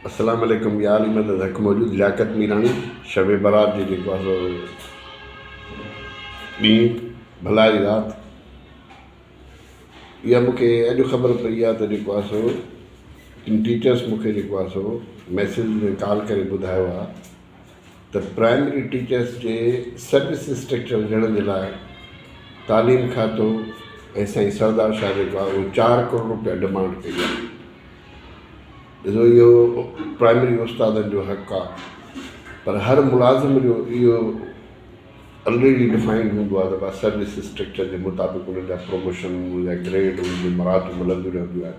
اسلام عليڪم يا علي مدد حق موجود لياقت ميراڻي شب برات جي جيڪو آسو ڏينهن ڀلائي رات اها مونکي اڄ خبر پئي آهي ته جيڪو آسو ٽيچرس مونکي جيڪو آسو ميسج ۾ ڪال ڪري ٻڌايو آهي ته پرائمري ٽيچرس جي سروس اسٽرڪچر ڏيڻ جي لاء تعليم کاتو ۽ سائين سردار شاهه جيڪو آهي اهو چار ڪروڙ روپيا ڊمانڊ ڪئي آهي ڏسو اهو پرائمري استادن جو حق آهي پر هر ملازم جو اهو آلريڊي ڊفائنڊ هوندو آهي ته بس سروس اسٽرڪچر جي مطابق انهن جا پروموشن انهن جا گريڊ انهن جي مراتب ملنديون رهنديون آهن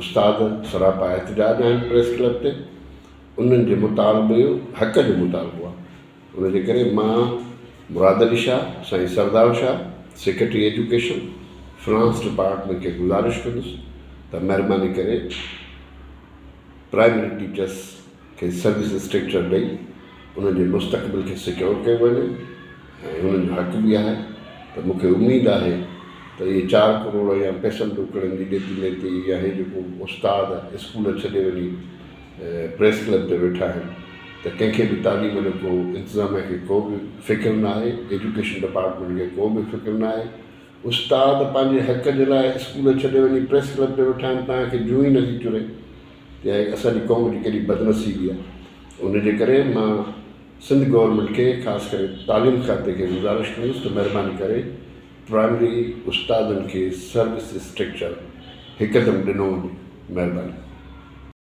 استاد سراپا احتجاج آهن پريس ڪلب تي انهن جي مطالبي حق جو مطالبو آهي ان جي ڪري مان مراد علي شاهه سائين Sardar Shah secretary education finance department کي گذارش ڪندس ته مهرباني ڪري پرائمري ٽيچرس کي سروس اسٽرڪچر ڏئي انهن جي مستقبل کي سيڪيور ڪيو وڃي ۽ انهن جو حق به آهي ته مون کي اميد آهي ته اهي چار ڪروڙ يا پئسن ڏوڪڙن جي ڏيتي ليتي يا اهي جيڪو استاد اسڪول ڇڏي وڃي پريس ڪلب تي ويٺا آهن ته ڪنهن کي به تعليم جو ڪو انتظاميه کي ڪو به فڪر نه آهي ايجوڪيشن ڊپارٽمينٽ کي ڪو به فڪر نه آهي استاد پنهنجي حق جي لاء اسڪول ڇڏي وڃي پريس ڪلب تي ويٺا آهن توهان کي جون ئي نٿي چري. يا هي اسان جي قوم جي ڪيڏي بدنصيبي آهي ان جي ڪري مان سنڌ گورنمينٽ کي خاص ڪري تعليم کاتي کي گذارش ڪندس ته مهرباني ڪري پرائمري استادن کي سروس اسٽرڪچر هڪدم ڏنو وڃي مهرباني.